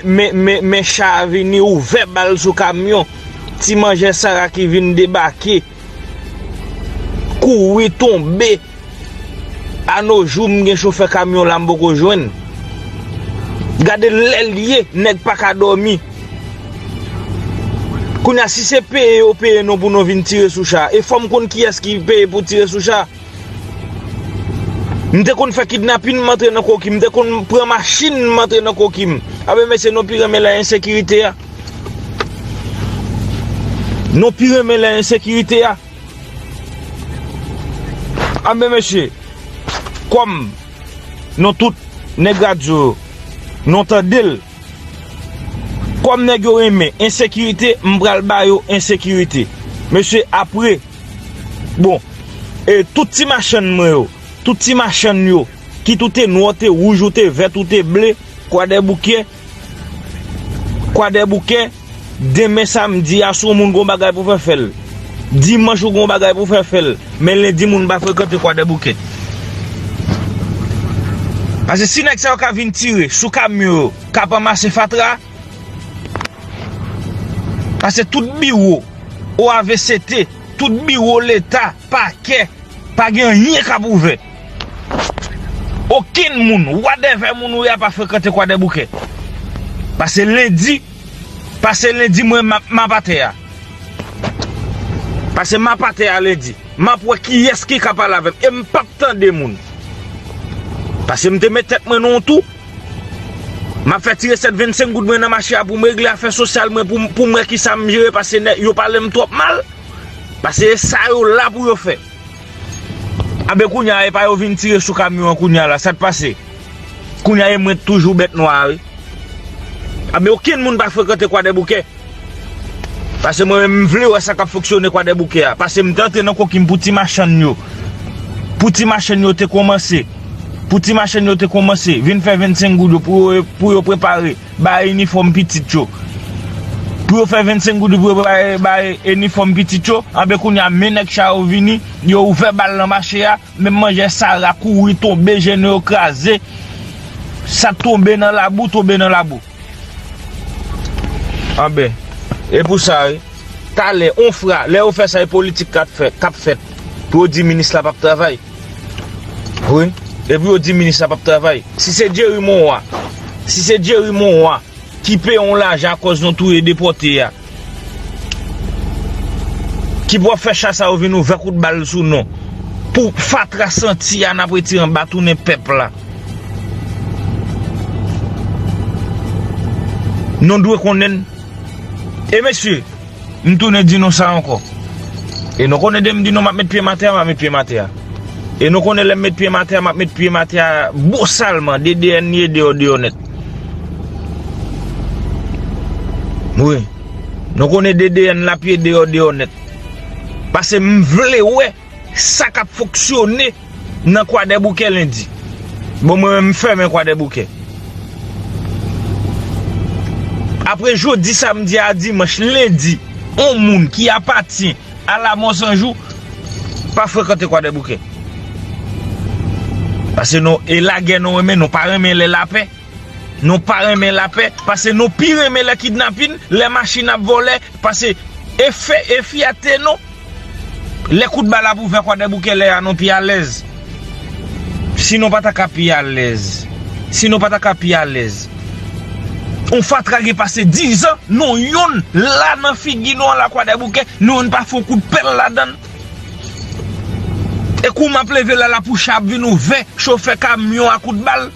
Men cha a vini ouvè bal sou kamyon ti manjè sara ki vin debake kouri tonbe a no jou m gen chofè kamyon la m poko jwenn gade lè l ye nèg pa ka dòmi kounye a si se peye yo peye nou pou nou vin tire sou cha e fò m konn kiyès ki peye pou tire sou cha. M te konn fè kidnapin m antre nan koki m te konn pran machin m antre nan koki m a be mesye nou pi renmen lè ensekirite a nou pi renmen lè ensekirite a a be mesye kòm nou tout nèg radyo yo nou tande l kòm nèg yo renmen ensekirite m pral ba yo ensekirite mesye apre Bon, e tout ti machann mwen yo, tout ti machann yo, kit ou te nwa, ou te wouj, ou te vèt, ou te ble, Kwadèboukè, Kwadèboukè, demen samdi a, si w moun gen yon bagay pou w fè, fè l. Dimanch ou gen yon bagay pou w fè, fè l. Men lendi moun pa frekante Kwadèboukè. Pase si nèg sa yo ka vin tire sou kamyon yo k ap ranmase fatra, Pase tout biwo OAVCT, tout biwo leta, pakè, pa gen anyen k ap ouvè. Okenn moun, wadèvè moun ou ye a pa frekante Kwadèboukè. Pase lendi, pase lendi mwen m ap atè a. Pase m ap atè a lendi. M ap wè kiyès ki ka pale avè m. E m p ap tande moun. Pase m te met tèt mwen nan yon tou. M ap fè ti resèt 25 goud mwen nan mache a pou m regle afè sosyal mwen pou m wè ki sa m jere pase yo pale m twòp mal. Pase e sa yo la pou yo fè. A ben kounye a e pa yo vin tire sou kamyon an kounye a la sa k pase? Kounye a e mwen k toujou bèt nwa a wi. A ben okenn moun pa frekante kwadèboukè. Pase mwen menm m vle wè sa kap fonksyone kwadèboukè a pase m t antre nan kokim pou ti machann yo pou ti machann yo te konmanse pou ti machann yo te konmanse vin fè 25 goud yo pou yo prepare bay inifòm pitit yo pou yo fè 25 goud yo pou yo prepare bay inifòm pitit yo anben kounya men nèg cha yo vini yo ouvè bal nan mache a menm manjè sara kouri tonbe jèn yo kraze sak tonbe nan labou tonbe nan labou. Anben, e pou sa wi. Talè, on fra, lè yo fè sa e politik kap fè, kap fèt. Pou yo di minis la pap travay. Wi, e pou yo di minis la pap travay. Si se Jerry Monroy, si se Jerry Monroy ki peye on lajan akòz nou touye depòte a. Ki pou ap fè cha sa yo vin ouvè kout bal sou nou. Pou fatra santi a nap retire anba tounen pèp la. Nou dwe konnen. E mesye, m tounen di nou sa ankò. E nou konnen de m di nou map met pye m atè a, map met pye m atè a. E nou konnen lè m met pye m atè a, m ap met pye m atè a bosalman, DDNY deyò deyò nèt. Wi. Nou konnen DDN la pye deyò deyò nèt. Pase m vle wè sa k ap fonksyone nan Kwadèboukè lendi. Bon mwen menm m fèmen Kwadèboukè. Apre jodi samdi a dimanch lendi, on moun ki apatyen. Ala monsanjou pa frekante kwadèboukè pase nou e lagè nou renmen nou pa renmen lè lapè nou pa renmen lapè pase nou pi renmen lè kidnapin lè machin ap vòlè pase e fè e fyète nou lè kout bal ap ouvè kwadèboukè lè a nou pi alèz. Si nou pa ta ka pi alèz. Si nou pa ta ka pi alèz. Yon fatra gen pase 10 an, nou youn la nan figi nou an la kwadèboukè, nou youn pa fon kout pèl ladann. E kou map leve la la pou cha ap vin ouvè, chofè kamyon a kout bal.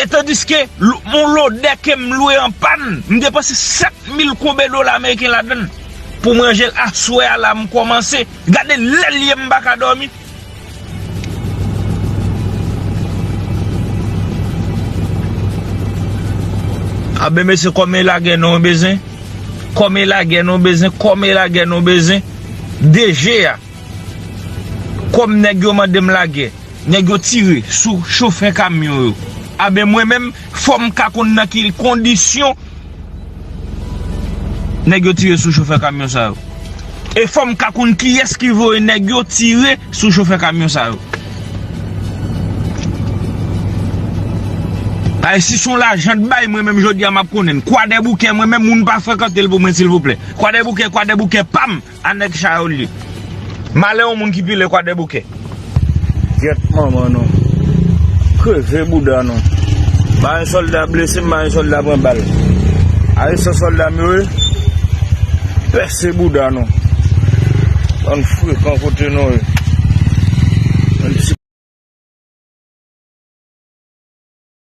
E tandiske, yon lodè kem lwe an pann, m depanse 7000 konbè dola ameriken ladann. Pou manjel aswè a la m komanse gade lèl ye m paka domi. A ben mesye kòmè lagè nou bezwen kòmè lagè nou bezwen kòmè lagè nou bezwen DG a kòm nèg yo mandem lagè nèg yo tire sou chofè kamyon yo a ben mwen menm fòm ka konn nan ki kondisyon Nèg yo tire sou chofè kamyon sa yo. E fòm ka konn kiyès ki voye nèg yo tire sou chofè kamyon sa yo. Ay si son lajan t bay mwen menm jodi a map konnen. Kwadèboukè mwen menm moun pa frekantel pou mwen silvouplè. Kwadèboukè kwadèboukè pam. A nèg chay ou li. Malè yon moun ki pile kwadèboukè. Gyèt manman nou. Kreve bouda nou. Ba yon solda blese ba yon solda pran bal. Aye sa solda m yo ye. Pèse bouda nou. Bann frekan kote nou ye. Bann ti.